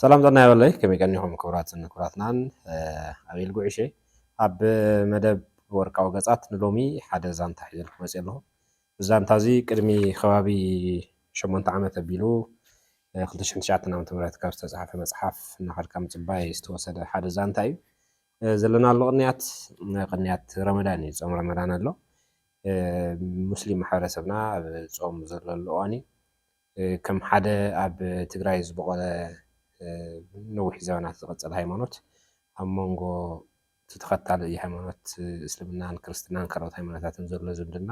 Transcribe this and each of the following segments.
ሰላም ጥዕና ይበለይ ከመይ ቀኒኹም ክቡራትን ክቡራትናን ኣብ ኢልጉ ዕሸ ኣብ መደብ ወርቃዊ ገጻት ንሎሚ ሓደ ዛንታ ሒዘልኩ መፅ ኣለኹ እዚ ዛንታ እዚ ቅድሚ ከባቢ ሸሞንተ ዓመት ኣቢሉ 2009 ዓ ም ካብ ዝተፅሓፈ መፅሓፍ እናኸድካ ምፅባይ ዝተወሰደ ሓደ ዛንታ እዩ ዘለናሉ ቅንያት ቅንያት ረመዳን እዩ ጾም ረመዳን ኣሎ ሙስሊም ማሕበረሰብና ኣብ ጾም ዘለሉ እዋን እዩ ከም ሓደ ኣብ ትግራይ ዝበቖለ ነዊሕ ዘበናት ዝቐፀለ ሃይማኖት ኣብ መንጎ እቲ ተኸታሊ ሃይማኖት እስልምናን ክርስትናን ካልኦት ሃይማኖታትን ዘሎ ዝምድና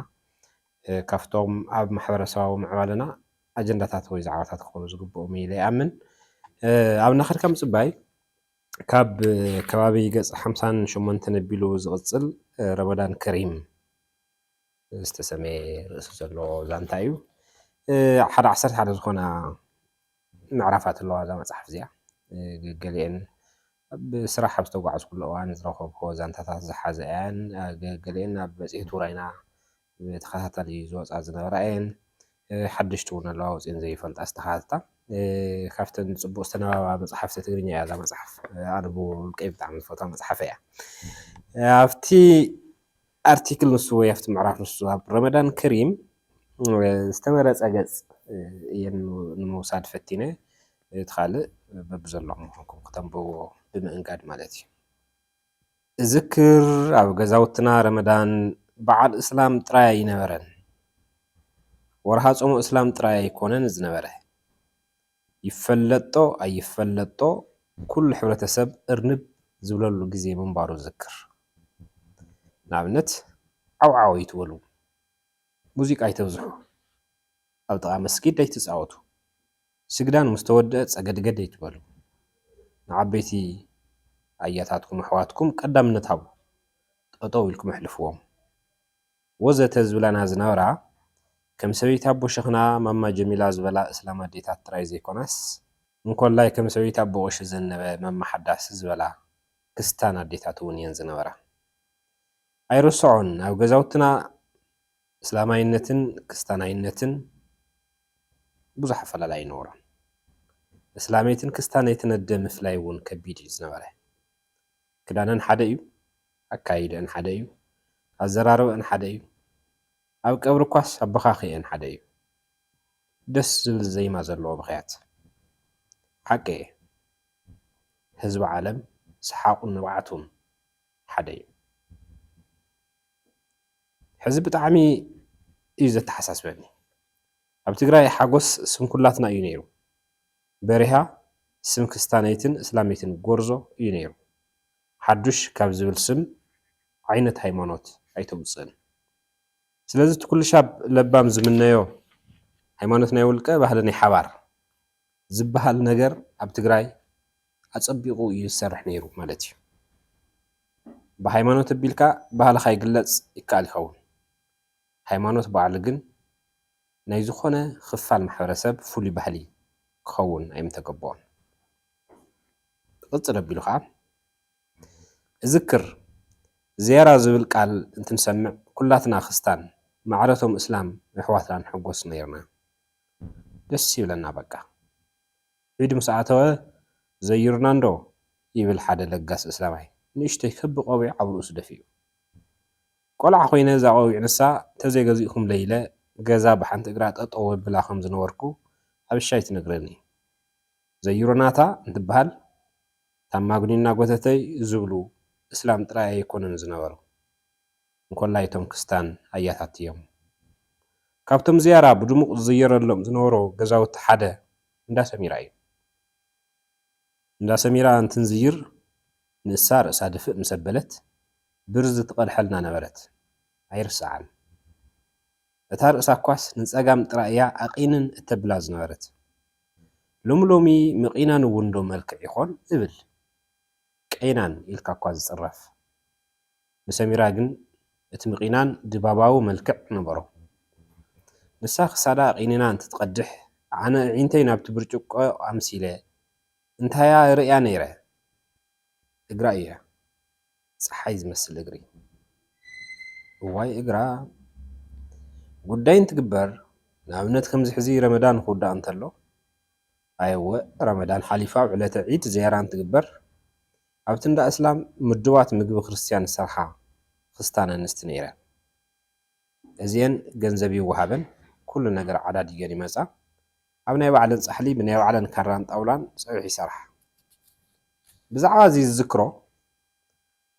ካብቶም ኣብ ማሕበረሰባዊ ምዕባለና ኣጀንዳታት ወይ ዛዕባታት ክኾኑ ዝግብኦም ኢለ ይኣምን ኣብ እናኸድካ ምፅባይ ካብ ከባቢ ገጽ ሓምሳን ሸሞንተን ኣቢሉ ዝቕጽል ረመዳን ከሪም ዝተሰምየ ርእሲ ዘለዎ ዛንታ እዩ። ሓደ ዓሰርተ ሓደ ዝኾና ምዕራፋት ኣለዋ እዛ መጽሓፍ እዚኣ ገገሊኤን ኣብ ስራሕ ኣብ ዝተጓዓዝኩሉ እዋን ዝረኸብኩዎ ዛንታታት ዝሓዘ እየን ገገሊኤን ኣብ መጽሄት ውራይና ብተኸታታሊ ዝወፃ ዝነበራ እየን። ሓደሽቲ እውን ኣለዋ ወፂኤን ዘይፈልጣ ዝተኻተታ። ካብተን ፅቡቅ ዝተነባባ መፅሓፍቲ ትግርኛ እያ እዛ መፅሓፍ። ኣነብዎ ውልቀይ ብጣዕሚ ዝፈትዋ መፅሓፈይ እያ። ኣብቲ ኣርቲክል ንሱ ወይ ኣብቲ ምዕራፍ ንሱ ኣብ ረመዳን ከሪም ዝተመረፀ ገፅ እየን ንምውሳድ ፈቲነ እቲ ካልእ በብዘለኹም ምዃንኩም ክተንብብዎ ብምእንጋድ ማለት እዩ። እዝክር ኣብ ገዛውትና ረመዳን በዓል እስላም ጥራይ ኣይነበረን። ወርሃ ጾመ እስላም ጥራይ ኣይኮነን ዝነበረ። ይፈለጦ ኣይፈለጦ ኩሉ ሕብረተሰብ እርንብ ዝብለሉ ግዜ ምንባሩ እዝክር። ንኣብነት ዓው ዓው ኣይትበሉ፣ ሙዚቃ ኣይተብዝሑ፣ ኣብ ጥቓ መስጊድ ኣይትጻወቱ፣ ስግዳን ምስ ተወድኣ ጸገድገድ ኣይትበሉ። ንዓበይቲ ኣያታትኩም ኣሕዋትኩም ቀዳምነት ሃቡ። ጠጠው ኢልኩም ኣሕልፍዎም። ወዘተ ዝብላና ዝነበራ ከም ሰበይቲ ኣቦ ሸኽና ማማ ጀሚላ ዝበላ እስላም ኣዴታት ጥራይ ዘይኮናስ እንኮላይ ከም ሰበይቲ ኣቦ ቐሺ ዘነበ ማማ ሓዳስ ዝበላ ክስታን ኣዴታት እውን እየን ዝነበራ። ኣይርሰዖን ኣብ ገዛውትና። እስላማይነትን ክስታናይነትን ብዙሕ ኣፈላላይ ኣይነበሮን። እስላመይትን ክስታነይትን ኣደ ምፍላይ እውን ከቢድ እዩ ዝነበረ። ክዳነን ሓደ እዩ፣ ኣከያይደኣን ሓደ እዩ፣ ኣዘራርበኣን ሓደ እዩ፣ ኣብ ቀብሪ እኳስ ኣበኻኽየኣን ሓደ እዩ። ደስ ዝብል ዜማ ዘለዎ ብኽያት። ሓቂ እየ ህዝቢ ዓለም ሰሓቑን ንብዓቱን ሓደ እዩ። ሕዚ ብጣዕሚ እዩ ዘተሓሳስበኒ ኣብ ትግራይ ሓጎስ ስም ኩላትና እዩ ነይሩ በሪሃ ስም ክስታነይትን እስላመይትን ጎርዞ እዩ ነይሩ ሓዱሽ ካብ ዝብል ስም ዓይነት ሃይማኖት ኣይተውፅእን ስለዚ እቲ ኩልሻብ ለባም ዝምነዮ ሃይማኖት ናይ ውልቀ ባህሊ ናይ ሓባር ዝብሃል ነገር ኣብ ትግራይ ኣጸቢቑ እዩ ዝሰርሕ ነይሩ ማለት እዩ። ብሃይማኖት ኣቢልካ ባህልኻ ይግለጽ ይከኣል ይኸውን። ሃይማኖት ባዕሉ ግን ናይ ዝኾነ ክፋል ማሕበረሰብ ፍሉይ ባህሊ ክኸውን ኣይምተገበኦን። ክቕጽል ኣቢሉ ከኣ እዝክር፣ ዝያራ ዝብል ቃል እንትንሰምዕ ኩላትና ክስታን ማዕረቶም እስላም የሕዋትና ንሕጎስ ነይርና። ደስ ይብለና በቃ። ዒድ ምስ ኣተወ ዘይሩና እንዶ ይብል ሓደ ለጋስ እስላማይ ንእሽተይ ክቢ ቆቢዕ ኣብ ርእሱ ደፊኡ። ቆልዓ ኮይነ እዛ ቆቢዕ ንሳ ተዘይገዚእኩምለይ ኢለ ገዛ ብሓንቲ እግራ ጠጠው ኣብላ ከም ዝነበርኩ ኣብሻይ ትነግረኒ። ዘይሩናታ እንትበሃል እታ ማግኒ እናጎተተይ ዝብሉ እስላም ጥራይ ኣይኮኑን ዝነበሩ። እንኮላይ እቶም ክስታን ኣያታት'ዮም። ካብቶም ዝያዳ ብድሙቕ ዝዝየረሎም ዝነበሩ ገዛውቲ ሓደ እንዳ ሰሚራ እዩ። እንዳ ሰሚራ እንትንዝይር ንሳ ርእሳ ድፍእ ምስ ኣበለት ብርዝ ትቐድሐልና ነበረት። ኣይርሰዓን። እታ ርእሳ እኳስ ንጸጋም ጥራይ እያ ኣቚንን እተብላ ዝነበረት። ሎሚ ሎሚ ምቚናን እውን ዶ መልክዕ ይኾን እብል። ቀይናን ኢልካ እኳ ዝጽረፍ። ንሰሚራ ግን እቲ ምቚናን ድባባዊ መልክዕ ነበሮ። ንሳ ክሳዳ ቚኒና እንትትቐድሕ፣ ኣነ ኣዒንተይ ናብቲ ብርጭቆ ኣምሲለ እንታይ'ያ ይርእያ ነይረ? እግራ'ዩ። ጸሓይ ዝመስል እግሪ። እዋይ እግራ! ጉዳይ እንትግበር፣ ንኣብነት ከምዚ ሕዚ ረመዳን ክውዳእ እንተሎ፣ ኣየ'ወ ረመዳን ሓሊፋ ኣብ ዕለተ ዒድ ዝያራ እንትግበር፣ ኣብቲ እንዳ እስላም ምዱባት ምግቢ ክርስትያን ዝሰርሓ ክስታን ኣንስቲ ነይረን። እዚኤን ገንዘብ ይወሃበን ኩሉ ነገር ዓዳዲገን ይመጻ። ኣብ ናይ ባዕለን ጻሕሊ ብናይ ባዕለን ካራን ጣውላን ጸብሒ ይሰርሓ። ብዛዕባ እዚ ዝዝክሮ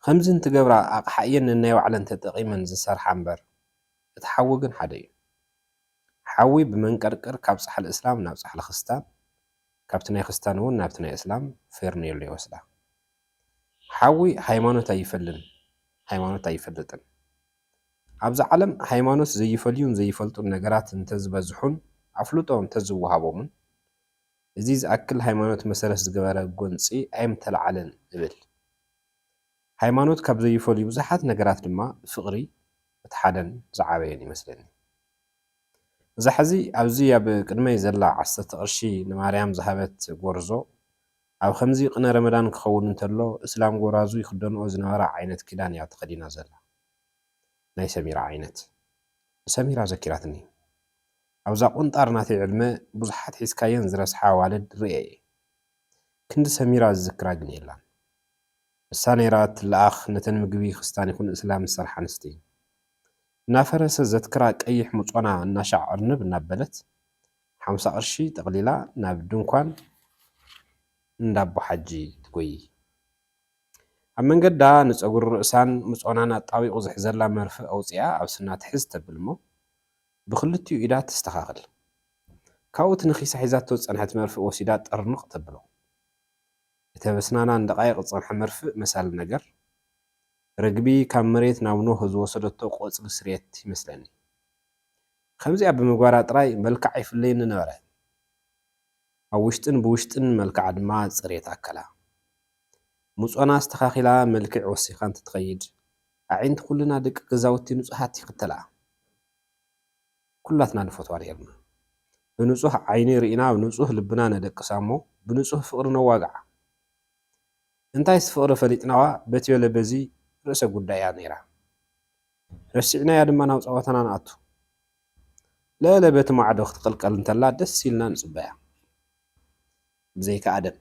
ከምዚ እንትገብራ ኣቕሓ እየን ነናይ ባዕለን ተጠቒመን ዝሰርሓ እምበር እቲ ሓዊ ግን ሓደ እዩ። ሓዊ ብመንቀርቅር ካብ ጻሕሊ እስላም ናብ ጻሕሊ ክስታን ካብቲ ናይ ክስታን እውን ናብቲ ናይ እስላም ፌርኔሎ ይወስዳ። ሓዊ ሃይማኖት ኣይፈልን ሃይማኖት ኣይፈልጥን። ኣብዛ ዓለም ሃይማኖት ዘይፈልዩን ዘይፈልጡን ነገራት እንተዝበዝሑን ኣፍልጦ እንተዝወሃቦምን እዚ ዝኣክል ሃይማኖት መሰረት ዝገበረ ጎንፂ ኣይምተልዓለን እብል። ሃይማኖት ካብ ዘይፈልዩ ብዙሓት ነገራት ድማ ፍቕሪ እቲ ሓደን ዝዓበየን ይመስለኒ። እዛ ሕዚ ኣብዚ ኣብ ቅድመይ ዘላ ዓሰርተ ቅርሺ ንማርያም ዝሃበት ጎርዞ ኣብ ከምዚ ቅነ ረመዳን ክኸውን እንተሎ እስላም ጎራዙ ይኽደንኦ ዝነበራ ዓይነት ክዳን እያ ተኸዲና ዘላ ናይ ሰሚራ ዓይነት ንሰሚራ ዘኪራትኒ ኣብዛ ቁንጣር ናተይ ዕድመ ብዙሓት ሒዝካየን ዝረስሓ ኣዋልድ ሪኤ እየ ክንዲ ሰሚራ ዝዝክራ ግን የላን ንሳ ነይራ ትለኣኽ ነተን ምግቢ ክስታን ይኹን እስላም ዝሰርሓ ኣንስቲ እናፈረሰ ዘትክራ ቀይሕ ሙጾና እናሻዕ ኣርንብ እናበለት ሓምሳ ቅርሺ ጠቕሊላ ናብ ድንኳን እንዳ ኣቦሓጂ ትጎይይ። ኣብ መንገዳ ንጸጉሪ ርእሳን ሙጾናን ኣጣቢቑ ዝሕዘላ መርፍእ ኣውጺኣ ኣብ ስና ትሕዝ ተብል'ሞ ብኽልቲኡ ኢዳ ተስተኻኽል። ካብኡ እቲ ነኺሳ ሒዛቶ ዝጸንሐት መርፍእ ወሲዳ ጠርንቕ ተብሎ። እተበስናናን ደቓይቕ ዝጸንሐ መርፍእ መሳሊ ነገር ርግቢ ካብ መሬት ናብ ኖህ ዝወሰደቶ ቆጽሊ ስርየት ይመስለኒ። ከምዚኣ ብምግባራ ጥራይ መልክዓ ይፍለየኒ ነበረ። ኣብ ውሽጥን ብውሽጥን መልክዓ ድማ ጽርየት ኣከላ። ሙጾና ኣስተኻኺላ መልክዕ ወሲኻ እንትትኸይድ፣ ኣዒንቲ ኩልና ደቂ ገዛውቲ ንጹሃት ይኽተልኣ። ኩላትና ንፈትዋ ነይርና። ብንጹህ ዓይኒ ርኢና ንጹህ ልብና ነደቅሳ'ሞ ብንጹህ ፍቕሪ ነዋግዓ። እንታይስ ፍቕሪ ፈሊጥናዋ በትዮ ለበዚ ርእሰ ጉዳይ እያ ነይራ። ረሲዕናያ ድማ ናብ ጸወታና ንኣቱ። ለለ በቲ ማዕዶ ክትቕልቀል እንተላ ደስ ኢልና ንጽበያ። ብዘይካ ኣደም።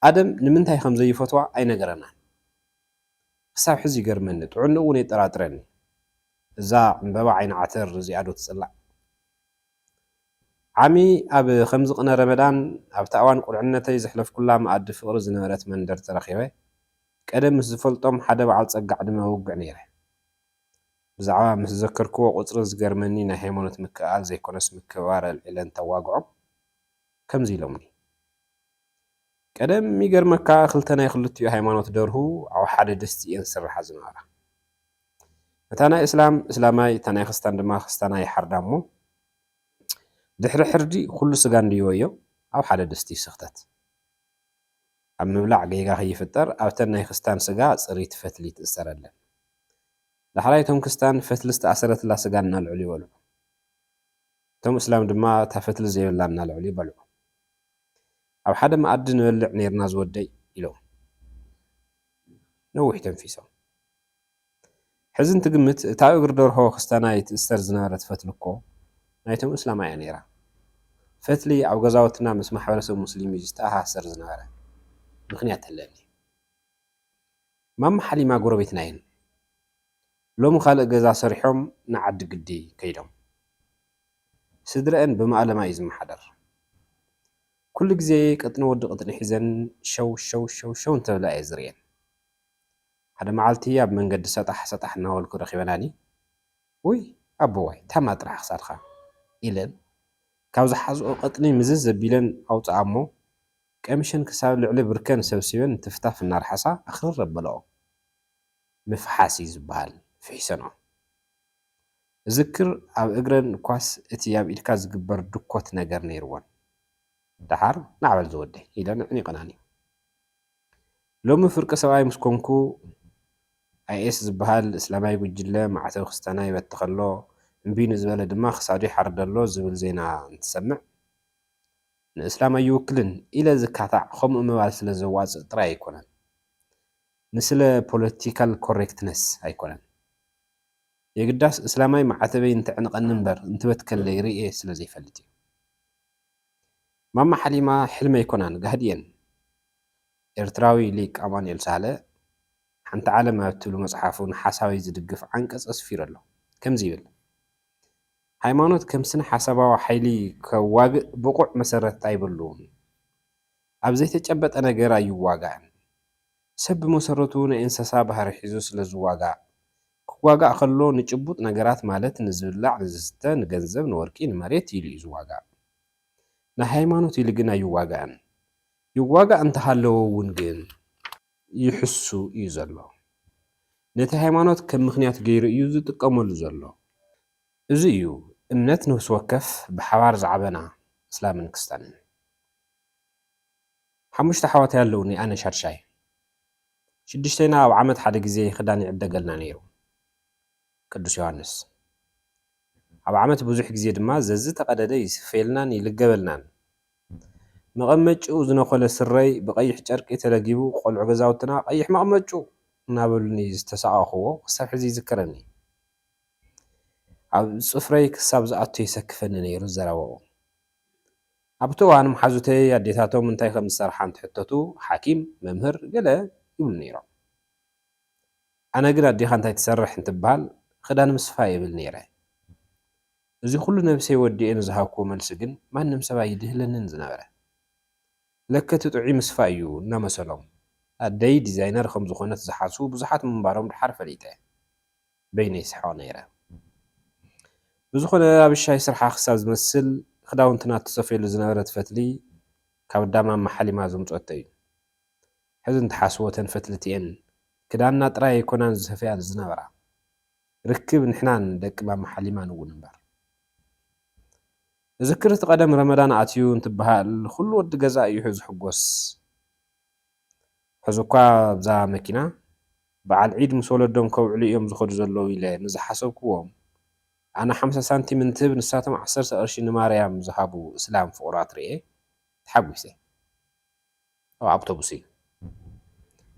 ኣደም ንምንታይ ከም ዘይፈትዋ ኣይነገረናን። ክሳብ ሕዚ ይገርመኒ፣ ጥዕንኡ እውን የጠራጥረኒ። እዛ ዕምበባ ዓይኒ ዓተር እዚኣዶ ትጽላእ? ዓሚ ኣብ ከምዚ ቅነ ረመዳን ኣብታ እዋን ቁልዕነተይ ዘሕለፍኩላ መኣዲ ፍቕሪ ዝነበረት መንደር ተረኺበ ቀደም ምስ ዝፈልጦም ሓደ በዓል ጸጋ ዕድመ ኣውግዕ ነይረ። ብዛዕባ ምስ ዘከርክዎ ቁጽርን ዝገርመኒ ናይ ሃይማኖት ምክእኣል ዘይኮነስ ምክብባር ኣልዒለ እንተዋግዖም ከምዚ ኢሎምኒ ቀደም ይገርመካ ክልተ ናይ ክልቲኡ ሃይማኖት ደርሁ ኣብ ሓደ ድስቲ እየን ዝስርሓ ዝነበራ። እታ ናይ እስላም እስላማይ እታ ናይ ክስታን ድማ ክስታናይ ይሓርዳ እሞ ድሕሪ ሕርዲ ኩሉ ስጋ እንድይወዮ ኣብ ሓደ ድስቲ ይስኽተት ኣብ ምብላዕ ገይጋ ከይፍጠር ኣብተን ናይ ክስታን ስጋ ፅሪት ፈትሊ ትእሰረለን ዳሕራይ እቶም ክስታን ፈትሊ ዝተኣሰረትላ ስጋ እናልዕሉ ይበልዑ እቶም እስላም ድማ እታ ፈትሊ ዘይብላ እናልዕሉ ይበልዑ ኣብ ሓደ መኣዲ ንበልዕ ነይርና ዝወደይ ኢሎም ነዊሕ ተንፊሶም ሕዚ እንትግምት እታ እግሪ ደርሆ ክስታናይ ትእስተር ዝነበረት ፈትሊ እኮ ናይቶም እስላማ እያ ነይራ። ፈትሊ ኣብ ገዛውትና ምስ ማሕበረሰብ ሙስሊም እዩ ዝተኣሳሰር ዝነበረ። ምኽንያት ኣለኒ። ማማ ሓሊማ ጎረቤትና እየን። ሎሚ ካልእ ገዛ ሰሪሖም ንዓዲ ግዲ ከይዶም። ስድረኣን ብማእለማ እዩ ዝመሓደር። ኩሉ ግዜ ቅጥኒ ወዲ ቅጥኒ ሒዘን ሸው ሸው ሸው ሸው እንተብላ እየ ዝርእየን። ሓደ መዓልቲ ኣብ መንገዲ ሰጣሕ ሰጣሕ እናበልኩ ረኺበናኒ፣ ውይ ኣቦዋይ ታማ ጥራሕ ክሳድኻ! ኢለን ካብ ዝሓዝኦ ቀጥኒ ምዝዝ ኣቢለን ኣውፅኣ'ሞ ቀሚሸን ክሳብ ልዕሊ ብርከን ሰብሲበን ትፍታፍ እናርሓሳ ኣኽርር ኣበለኦ። ምፍሓስ እዩ ዝበሃል ፍሒሰንኦ። እዝክር ኣብ እግረን እኳስ እቲ ኣብ ኢድካ ዝግበር ድኮት ነገር ነይርወን። ደሓር ናዕበል ዝወደይ! ኢለን ኣዕኒቐናኒ። ሎሚ ፍርቂ ሰብኣይ ምስ ኮንኩ፣ ኣይኤስ ዝበሃል እስላማይ ጉጅለ ማዕተብ ክስተና ይበትኽ ኣሎ፣ እምቢ ንዝበለ ድማ ክሳዱ ይሓርድ ኣሎ ዝብል ዜና እንትሰምዕ፣ ንእስላም ኣይውክልን ኢለ ዝካታዕ ከምኡ ምባል ስለ ዘዋጽእ ጥራይ ኣይኮነን። ንስለ ፖለቲካል ኮሬክትነስ ኣይኮነን። የግዳስ እስላማይ ማዕተበይ እንተዕንቐኒ እምበር እንትበትከለይ ርእየ ስለ ዘይፈልጥ እዩ። ማማ ሓሊማ ሕልሚ ኣይኮናን ጋህዲ እየን። ኤርትራዊ ሊቅ ኣማኑኤል ሳህለ ሓንቲ ዓለም ኣብ እትብሉ መጽሓፉ ንሓሳዊ ዝድግፍ ዓንቀጽ ኣስፊሩ ኣሎ። ከምዚ ይብል፣ ሃይማኖት ከም ስነ-ሓሳባዊ ሓይሊ ከዋግእ ብቑዕ መሰረት ኣይብሉን። ኣብ ዘይተጨበጠ ነገር ኣይዋጋእን። ሰብ ብመሰረቱ ናይ እንሰሳ ባህሪ ሒዙ ስለ ዝዋጋእ፣ ክዋጋእ ከሎ ንጭቡጥ ነገራት ማለት ንዝብላዕ ንዝስተ ንገንዘብ ንወርቂ ንመሬት ኢሉ እዩ ዝዋጋእ። ንሃይማኖት ኢሉ ግን ኣይዋጋእን። ይዋጋእ እንተሃለወ እውን ግን ይሕሱ እዩ ዘሎ። ነቲ ሃይማኖት ከም ምኽንያት ገይሩ እዩ ዝጥቀመሉ ዘሎ። እዚ እዩ እምነት ነፍሲ ወከፍ ብሓባር ዝዓበና እስላምን ክስታንን። ሓሙሽተ ኣሕዋተይ ኣለውኒ ኣነ ሻድሻይ። ሽዱሽተይና ኣብ ዓመት ሓደ ግዜ ኽዳን ይዕደገልና ነይሩ። ቅዱስ ዮሃንስ። ኣብ ዓመት ብዙሕ ግዜ ድማ ዘዝተቐደደ ይስፈየልናን ይልገበልናን። መቐመጭኡ ዝነኾለ ስረይ ብቐይሕ ጨርቂ ተለጊቡ ቖልዑ ገዛውትና ቐይሕ መቐመጭኡ እናበሉኒ ዝተሳቐኹዎ ክሳብ ሕዚ ይዝከረኒ። ኣብ ፅፍረይ ክሳብ ዝኣቱ የሰክፈኒ ነይሩ ዘረባኡ። ኣብቲ እዋን መሓዙተይ ኣዴታቶም እንታይ ከም ዝሰርሓ እንትሕተቱ ሓኪም፣ መምህር፣ ገለ ይብሉ ነይሮም። ኣነ ግን ኣዴኻ እንታይ ትሰርሕ እንትበሃል ኽዳን ምስፋይ እብል ነይረ። እዚ ኹሉ ነብሰይ ወዲኤ ንዝሃብክዎ መልሲ ግን ማንም ሰብ ኣይድህለንን ዝነበረ። ለከ እቲ ጥዑይ ምስፋይ እዩ እናመሰሎም ኣደይ ዲዛይነር ከም ዝኾነት ዝሓስቡ ብዙሓት ምንባሮም ደሓር ፈሊጠ። በይነይ ይስሕቕ ነይረ። ብዝኾነ ኣብሻይ ስርሓ ክሳብ ዝመስል ክዳውንትና እትሰፍየሉ ዝነበረት ፈትሊ ካብ እዳ ማማ ሓሊማ ዘምጽኦቶ እዩ። ሕዚ እንትሓስቦ እተን ፈትሊ እቲኤን ክዳንና ጥራይ ኣይኮናን ዝሰፍያሉ ዝነበራ። ርክብ ንሕናን ደቂ ማማ ሓሊማን እውን እምበር። እዝክር እቲ ቀደም ረመዳን ኣትዩ እንትበሃል ኹሉ ወዲ ገዛ እዩ ዝሕጎስ። ሕዚ'ኳ ኣብዛ መኪና በዓል ዒድ ምስ ወለዶም ከብዕሉ እዮም ዝኸዱ ዘለዉ ኢለ ንዝሓሰብኩዎም፣ ኣነ ሓምሳ ሳንቲም እንትህብ ንሳቶም ዓሰርተ ቅርሺ ንማርያም ዝሃቡ እስላም ፍቑራት ርእየ ተሓጒሰ። ኣብ ኣብቶቡስ'ዩ።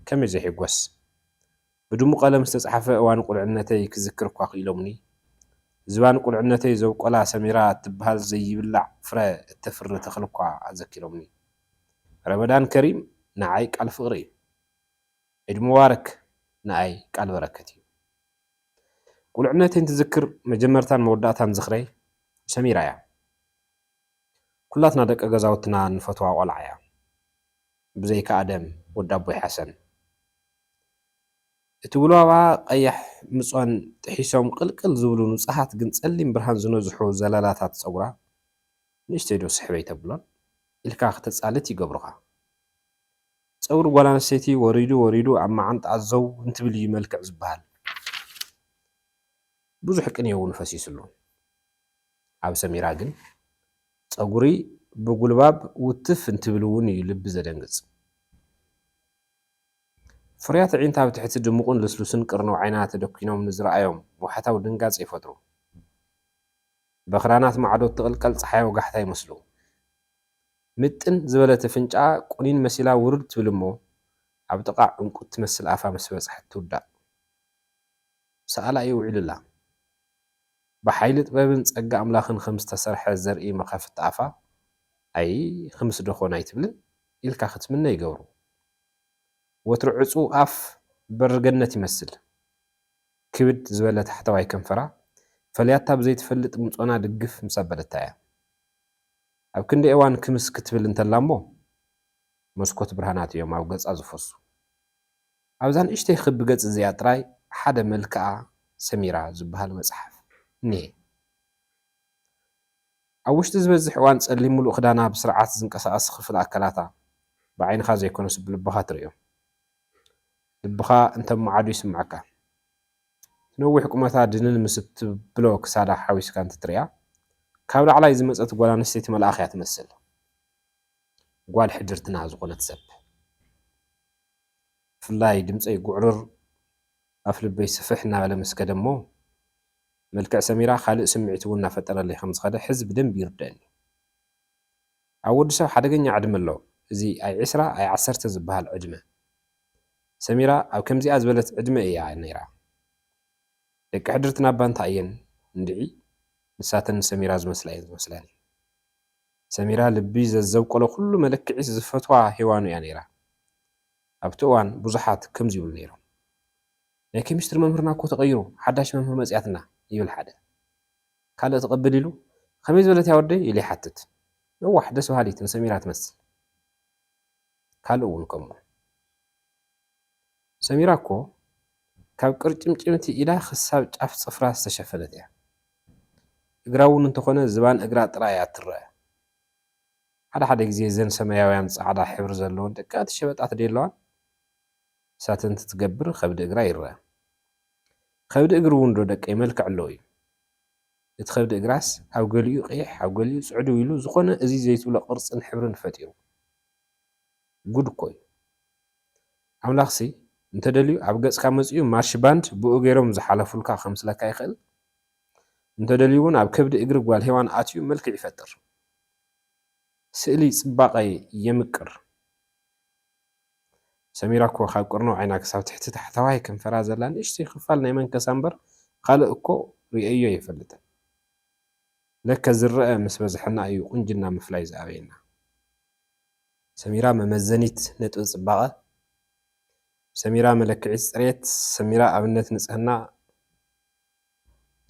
ከመይ ዘይሕጐስ! ብድሙ ቀለም ዝተጻሕፈ እዋን ቁልዕነተይ ክዝክር እኳ ክኢሎምኒ። ዝባን ቁልዕነተይ ዘብቆላ ሰሚራ እትብሃል ዘይብላዕ ፍረ እተፍሪ ተኽሊ እኳ ኣዘኪሮምኒ። ረመዳን ከሪም ንዓይ ቃል ፍቕሪ እዩ። ዒድ ሙባረክ ንኣይ ቃል በረከት እዩ። ቁልዕነተይ እንትዝክር መጀመርታን መወዳእታን ዝኽረይ ሰሚራ እያ። ኩላትና ደቂ ገዛውትና እንፈትዋ ቆልዓ እያ። ብዘይካ ኣደም ወዲ ኣቦይ ሓሰን። እቲ ጉልባባ ቀያሕ ምጾን ጥሒሶም ቅልቅል ዝብሉ ንጹሃት ግን ጸሊም ብርሃን ዝነዝሑ ዘለላታት ጸጉራ፣ ንእሽተይ ዶ ስሕብ ኣይተብሎን? ኢልካ ክተጻልት ይገብሩኻ። ጸጉሪ ጓል ኣንስተይቲ ወሪዱ ወሪዱ ኣብ መዓንጣኣ ዘው እንትብል እዩ መልክዕ ዝበሃል። ብዙሕ ቅኔ'ውን ፈሲስሉ። ኣብ ሰሚራ ግን ጸጉሪ ብጉልባብ ውትፍ እንትብል'ውን እዩ ልቢ ዘደንግጽ። ፍርያት ኣዒንቲ ኣብ ትሕቲ ድሙቕን ልስሉስን ቅርንው ዓይና ተደኲኖም ንዝርኣዮም ወሓታዊ ድንጋጸ ይፈጥሩ። በኽራናት ማዕዶ እትቕልቀል ጸሓይ ወጋሕታ ይመስሉ። ምጥን ዝበለት ኣፍንጫኣ ቁኒን መሲላ ውርድ ትብል እሞ ኣብ ጥቓ ዕንቊ እትመስል ኣፋ ምስ በጽሐት ትውዳእ። ሰኣላ እዩ ውዒሉ እላ። ብሓይሊ ጥበብን ጸጋ ኣምላኽን ኸም ዝተሰርሐ ዘርኢ መኸፍቲ ኣፋ ኣይ ኽምስዶ ኾን ኣይትብልን? ኢልካ ክትምነ ይገብሩ። ወትሩ ዕጹው ኣፍ በሪ ገነት ይመስል። ክብድ ዝበለ ታሕተዋይ ከንፈራ ፈልያታ ብዘይትፈልጥ ምጾና ድግፍ ምስ ኣበለታ'ያ ኣብ ክንዲ እዋን ክምስ ክትብል እንተላ'ሞ መስኮት ብርሃናት'ዮም ኣብ ገጻ ዝፈሱ። ኣብዛ ንእሽተይ ክቢ ገጽ'ዚኣ ጥራይ ሓደ መልክኣ ሰሚራ ዝብሃል መጽሓፍ እኒሀ። ኣብ ውሽጢ ዝበዝሕ እዋን ጸሊም ምሉእ ክዳና ብስርዓት ዝንቀሳቐስ ክፍል ኣካላታ ብዓይንኻ ዘይኮነስ ብልብኻ ትርእዮ። ልብኻ እንተማዓዱ ይስምዓካ። እቲ ነዊሕ ቁመታ ድንን ምስ እትብሎ ክሳዳ ሓዊስካ እንትትርእያ ካብ ላዕላይ ዝመጸት ጓል ኣንስተይቲ መልኣኽ እያ ትመስል። ጓል ሕድርትና ዝኾነት ሰብ። ብፍላይ ድምጸይ ጉዕርር ኣፍልበይ ስፍሕ እናበለ ምስ ከደ'ሞ። መልክዕ ሰሚራ ካልእ ስምዒት እውን እናፈጠረለይ ከም ዝኸደ ሕዚ ብደንቢ ይርደኣኒ እዩ። ኣብ ወዲ ሰብ ሓደገኛ ዕድመ ኣሎ እዚ ኣይ ዕስራ ኣይ ዓሰርተ ዝበሃል ዕድመ። ሰሚራ ኣብ ከምዚኣ ዝበለት ዕድመ እያ ነይራ። ደቂ ሕድርትና እባ እንታይ እየን እንድዒ ንሳተን ንሰሚራ ዝመስላ እየን ዝመስላኒ። ሰሚራ ልቢ ዘዘብቆሎ ኩሉ መለክዒስ ዝፈትዋ ሄዋኑ እያ ነይራ። ኣብቲ እዋን ብዙሓት ከምዚ ይብሉ ነይሮም። ናይ ኬሚስትሪ መምህርና እኮ ተቐይሩ ሓዳሽ መምህር መፂኣትና ይብል ሓደ። ካልእ እቲ ቅብል ኢሉ ከመይ ዝበለት እያ ወደይ ኢሉ ይሓትት። ነዋሕ ደስ በሃሊት ንሰሚራ ትመስል። ካልእ እውን ከምኡ። ሰሚራ እኮ ካብ ቅርጭምጭምቲ ኢዳ ክሳብ ጫፍ ፅፍራ ዝተሸፈነት እያ። እግራ እውን እንተኾነ ዝባን እግራ ጥራይ እያ እትረኣ። ሓደ ሓደ ግዜ እዘን ሰማያውያን ፃዕዳ ሕብሪ ዘለወን ደቀቕቲ ሸበጣት ደየለዋን? እሳተ እንትትገብር ኸብዲ እግራ ይረኣ። ኸብዲ እግሪ እውን ዶ ደቀይ መልክዕ ኣለዎ እዩ። እቲ ኸብዲ እግራስ ኣብ ገሊኡ ቐይሕ ኣብ ገሊኡ ጽዕድው ኢሉ ዝኾነ እዚ ዘይትብሎ ቕርጽን ሕብርን ፈጢሩ። ጉድ እኮ እዩ። ኣምላኽሲ እንተደልዩ ኣብ ገጽካ መጺኡ ማርሽ ባንድ ብኡ ገይሮም ዝሓለፉልካ ከምስለካ ይኽእል። እንተደልዩ እውን ኣብ ከብዲ እግሪ ጓል ሄዋን ኣትዩ መልክዕ ይፈጥር። ስእሊ ጽባቐ የምቅር። ሰሚራ እኮ ካብ ቅርንው ዓይና ክሳብ ትሕቲ ታሕተዋይ ከንፈራ ዘላ ንእሽተይ ክፋል ናይ መንከሳ እምበር ኻልእ እኮ ሪኤዮ ኣይፈልጥን። ለከ ዝረኣ ምስ በዝሐና እዩ ቁንጅና ምፍላይ ዝኣበየና። ሰሚራ መመዘኒት ነጥቢ ፅባቐ ሰሚራ መለክዒት ፅሬት ሰሚራ ኣብነት ንፅህና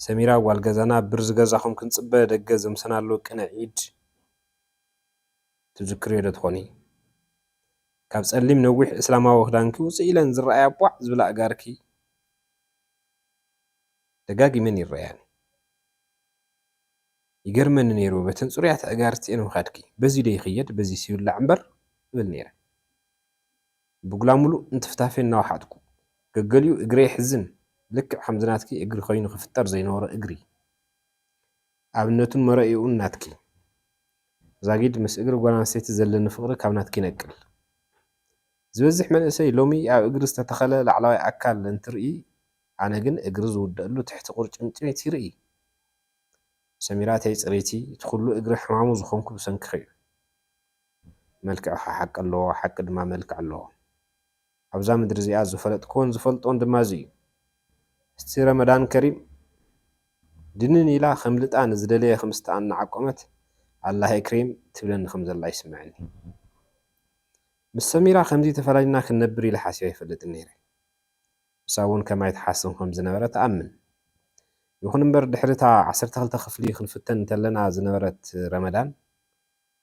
ሰሚራ ጓል ገዛና ብር ዝገዛኹም ክንፅበ ደገ ዘምሰናሉ ቅነ ኢድ። ትዝክርዮ ዶ ትኾኒ ካብ ጸሊም ነዊሕ እስላማዊ ክዳንኪ ውጽእ ኢለን ዝረኣያ ቧዕ ዝብላ ኣእጋርኪ ደጋጊመን ይረኣያኒ ይገርመኒ ነይሩ በተን ጽሩያት ኣእጋርቲኤን ምኻድኪ በዚ ዶ ይኽየድ በዚስ ይውላዕ እምበር እብል ነይረ ብጉላሙሉ እንትፍታፌ እናወሓጥኩ ገገሊኡ እግረይ የሕዝን ልክዕ ከምዚ ናትኪ እግሪ ኮይኑ ክፍጠር ዘይነበሮ እግሪ ኣብነቱን መረኢኡን ናትኪ ዛጊድ ምስ እግሪ ጓል ኣንስተይቲ ዘለኒ ፍቕሪ ካብ ናትኪ ይነቅል። ዝበዝሕ መንእሰይ ሎሚ ኣብ እግሪ ዝተተኸለ ላዕለዋይ ኣካል እንትርኢ ኣነ ግን እግሪ ዝውደኣሉ ትሕቲ ቁርጭምጭሚት ይርኢ። ሰሚራተይ ፅርይቲ እቲ ኩሉ እግሪ ሕማሙ ዝኾንኩ ብሰንክኺ እዩ። መልክዕኻ ሓቂ ኣለዎ ሓቂ ድማ መልክዕ ኣለዎ። ኣብዛ ምድሪ እዚኣ ዝፈለጥክዎን ዝፈልጦን ድማ እዚ እዩ። እስቲ ረመዳን ከሪም ድንን ኢላ ከምልጣ ንዝደለየ ክምስታ እናዓቆመት ኣላህ እክሪም ትብለኒ ከምዘላ ይስመዐኒ። ምስ ሰሚራ ከምዚ ተፈላሊና ክንነብር ኢለ ሓሲበ ኣይፈልጥን ነይረ። ንሳ እውን ከማይ ትሓስብ ከምዝነበረት እኣምን። ይኹን እምበር ድሕሪ እታ ዓሰርተ ክልተ ክፍሊ ክንፍተን እንተለና ዝነበረት ረመዳን፣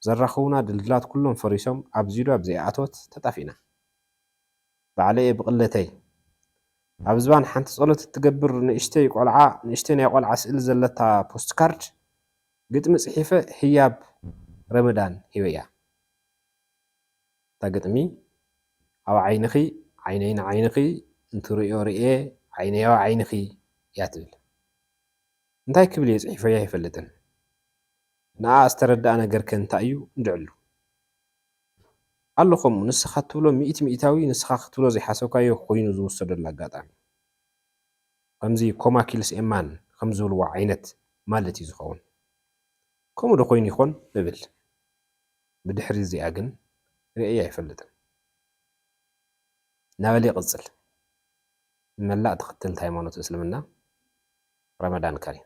ዘራኽቡና ድልድላት ኩሎም ፈሪሶም ኣብ ዚዱኣብ ዘይኣተወት ተጣፊእና ባዕለይ'የ ብቕለተይ ኣብ ዝባን ሓንቲ ጸሎት እትገብር ንእሽተይ ቆልዓ ንእሽተይ ናይ ቆልዓ ስእሊ ዘለታ ፖስትካርድ ግጥሚ ጽሒፈ ህያብ ረመዳን ሂበያ እታ ግጥሚ ኣብ ዓይንኺ ዓይነይ ንዓይንኺ እንትርእዮ ርእየ ዓይነይ ኣብ ዓይንኺ እያ ትብል እንታይ ክብል'የ ጽሒፈያ ኣይፈልጥን ንዓ ዝተረደኣ ነገር ከ እንታይ እዩ እንድዕሉ ኣሎ ከምኡ ንስካ እትብሎ ሚእቲ ሚኢታዊ ንስካ ክትብሎ ዘይሓሰብካዮ ኮይኑ ዝውሰደሉ ኣጋጣሚ ከምዚ ኮማ ኪልስ ኤ ማን ከም ዝብልዎ ዓይነት ማለት እዩ ዝከውን ከምኡ ዶ ኮይኑ ይኮን እብል ብድሕሪ እዚኣ ግን ሪኤያ ኣይፈልጥን ናበለ ይቅጽል ንመላእ ተከተልቲ ሃይማኖት እስልምና ረመዳን ከሪም።